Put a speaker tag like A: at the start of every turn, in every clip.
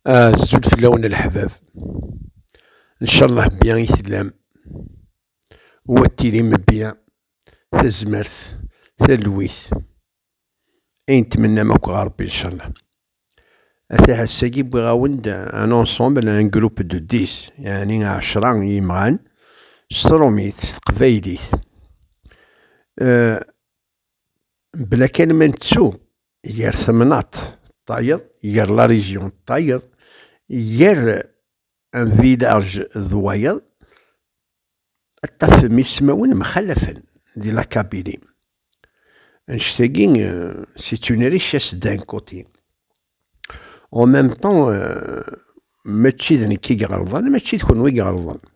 A: Azul fell-awen a leḥbab, ncalleh bbi i tellam, u ad tilim bbi, tazmert, talwit, ayen tmennam akk ɣer Rebbi ncalleh. Ata ass-agi wwiɣ-awen-d un ensemble, un groupe de dix, yeɛni ɛecra n yimɣan, s trumit, s teqbaylit, mebla kan ma nettu gar temnaḍt d tayeḍ, gar la région d tayeḍ, gar un village d wayeḍ, ad tafem ismawen mxalafen di la Kabylie. Annect-agi, c'est une richesse d'un côté. En même temps, mačči d nekk i iɣelḍen, mačči d kenwi i iɣelḍen.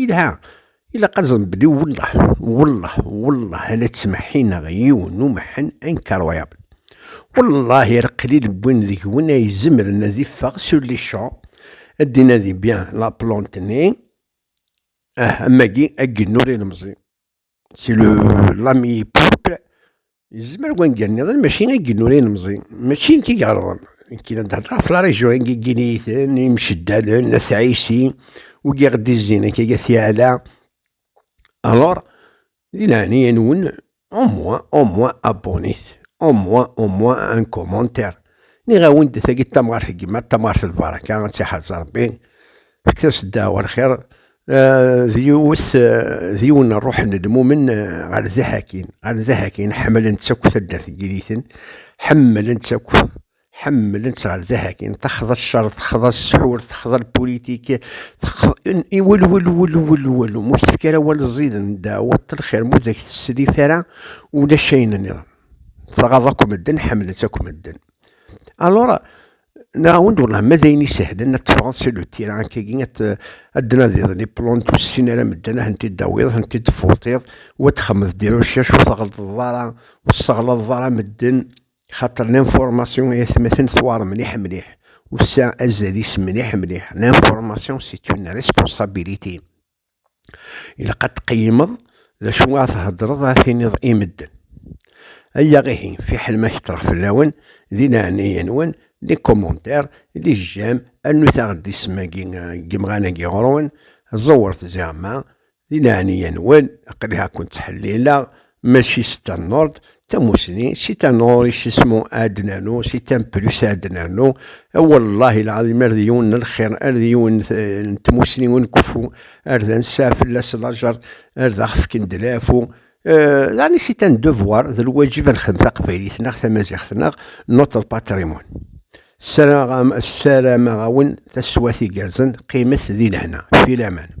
A: Yelha, ilaq ad nbedi wellah, wellah, wellah a la ttmeḥḥineɣ yiwen n umeḥḥen incroyable. Wellah i reqlil n win deg-wen ay izemren ad iffeɣ sur les champs, ad d-inadi bien la plante-nni, ah, am wagi, aggenur ilemẓi. Si lami pop, yezmer wangal nniḍen mačči ad gin ur inemẓi, mačči nekk i iɣelḍen, nekk i d-hedder ɣef la region i gin iten, imceddalen, at ɛisi, ur giɣ d izzin akka ga tiɛala, alors, di laɛnaya nwen, au moins, au moins abonnez, au moins, au moins un commentaire, nniɣ awen-d tagi d tamɣart n gma, d tamɣart n lbaraka, ad tiḥrez Rebbi, Tasedda ɣer lxir d yiwet d yiwen ṛṛuḥ n lmumen ɣer Daḥakin. Ɣer Daḥakin ḥemmlen-tt akk taddart n Yiriten, ḥemmlen-tt akk, ḥemmlen-tt ɣer Daḥakin, texḍa cceṛ, texḍa ssḥur, texḍa lpulitik, texḍa wal walu, walu, walu, walu, ma ur k-tefki ara awal ẓiden, ddeɛweḍ-t lxir, ma ur d ak-teslit ara ulac ayen nniḍen, tɣaḍ akk medden, ḥemmlen-tt akk medden. Alor, Nɛawen-d wallah ma d ayen isehlen ad teffɣeḍ si lutira akkagi ad d-tnadiḍ les plantes ur tessin ara medden ad tent-id-tawiḍ, ad tent-id-tfurtiḍ u ad txemmeḍ des recherches ur tɣellteḍ ara ur tesseɣlaḍeḍ ara medden xaṭer l'information ay atmaten tewɛer mliḥ mliḥ u tesɛa azal-is mliḥ mliḥ, l'information c'est une responsabilité. ilaq ad tqeyymeḍ d acu ara theddreḍ ara tiniḍ i medden. Aya ihi, fiḥel ma ketreɣ fell-awen, di leɛnaya-nwen, di commentaire, di jjam, rnut-aɣ-d isem-agi n yimɣan-agi ɣur-wen, ẓewret ziɣemma, di leɛnaya-nwen, aql-i ha ken-ttḥellileɣ, Mačči si tan nord, tamusni, si tan ɣur isismu ad nernu, si tan plus ad nernu, wallahi lɛadim ar d yiwen n lxir, ar d yiwen n tmusni ur nkeffu, ar d ansaɛ fell-as lajer, ar d aɣ-fken d laɛfu, daɣen si tan devoir, d lwaǧib ad nexdem taqbaylit neɣ tamaziɣt neɣ notre patrimoine. Ssarameɣ-awen taswat igerrzen, qqimet di lehna. Filaman.